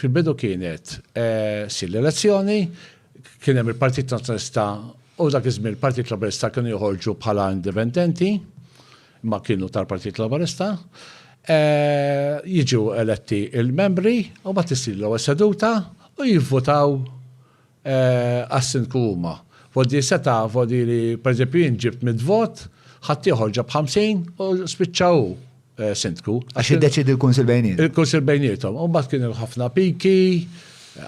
Fil-bidu kienet ssir l-elezzjoni, kien hemm il-Partit Nazzjonalista u dak iż-żmien il-Partit Laburista kienu joħorġu bħala indipendenti, imma kienu tal-Partit Laburista. Jiġu eletti l-membri u mbagħad issir l-ewwel seduta u jivvutaw għas-Sindku huma voti li seta' voti li pereżempju jien ġibt mitt vot, ħaddieħor ġab 50 u spiċċa hu Sindku. Għax iddeċiedi l-Kunsill bejniethom. Il-Kunsill bejniethom. U mbagħad kien hemm ħafna piki,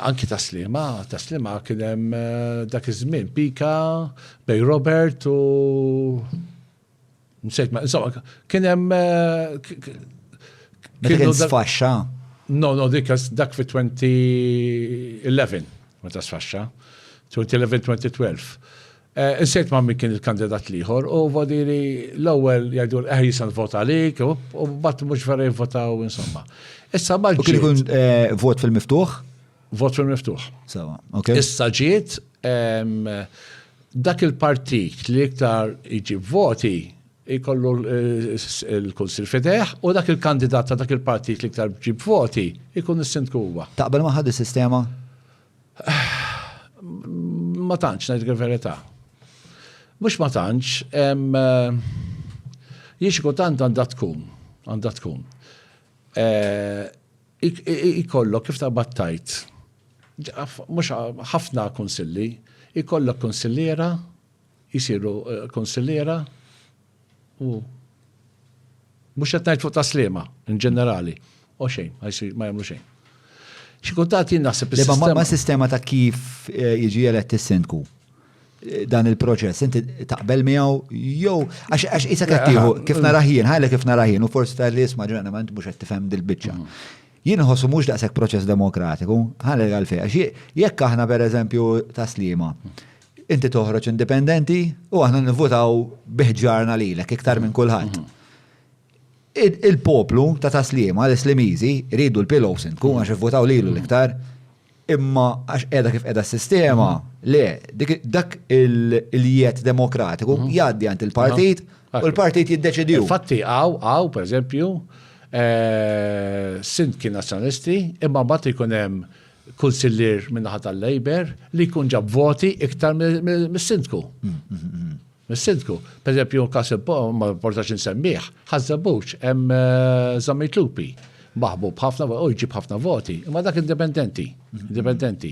anki ta' Sliema, ta' Sliema kien hemm dak iż-żmien pika bejn Robert u Nsejt ma, insomma, kien hemm. Kien sfaxxa? No, no, dik dak fi 2011, meta sfaxxa. 2011-2012. Insejt ma min kien il-kandidat liħor u vodiri l-ewwel jgħidu l-eħ jisan vota għalik u bat mhux vera jivvotaw insomma. Issa ma. Kien ikun vot fil-miftuħ? Vot fil-miftuħ. Sewa, ok. Issa ġiet dak il-partit li iktar iġib voti jkollu l-kunsil eh, fideħ u dak il-kandidat ta' dak il-partit li iktar ġib voti jkun is-sindku huwa. Taqbel ma' ħad is-sistema? Ma tantx ngħid il-verità. Mhux ma tantx, eh, jiex tant għandha tkun, għandha tkun. Eh, Ikollok kif ta' battajt. Mhux ħafna kunsilli, ikollok kunsilliera, jisiru eh, kunsilliera u mhux qed ngħid fuq ta' slima in ġenerali. O xejn, ma jagħmlu xejn. Xi kultant jien naħseb is-sistema. Ma sistema ta' kif eh, jiġi elett is-sindku. dan il-proċess, inti taqbel miegħu jew għax isa qed tieħu kif naraħ jien, ħajla kif naraħ jien u forsi ta' li isma' ġrana ma int mhux qed tifhem dil-biċċa. Mm. Jien ħossu mhux daqshekk proċess demokratiku, ħalli għalfej għax jekk aħna pereżempju taslima inti toħroġ indipendenti u aħna nivvutaw biħġarna lilek iktar minn kulħadd. Mm-hmm. Il-poplu ta' Tas-Sliema, l-Islimiżi, iridu l-Pillow Sindku għax ivvutaw lilu l-iktar. Imma għax qiegħda kif qiegħda s-sistema, le, dak il-jiet demokratiku jgħaddi għand il-partit u l-partit jiddeċidih. Infatti hawn, hawn, pereżempju, Sindki Nazzjonalisti imma mbagħad ikun hemm Kunsillier min-naħa tal-Labour li jkun ġab voti iktar mis-Sindku. Mis-Sindku. Pereżempju, każ ma importax insemmih, Ħaż-Żebbuġ, hemm Żammit Lupi, maħbub ħafna u jġib ħafna voti, imma dak indipendenti, indipendenti.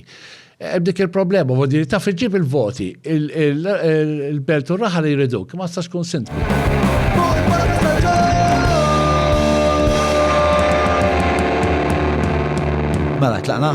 Hemm dik il-problema, u diri taf iġib il-voti, il-belt u raħal jriduk, ma tistax tkun sindku. Mela, tlaqna?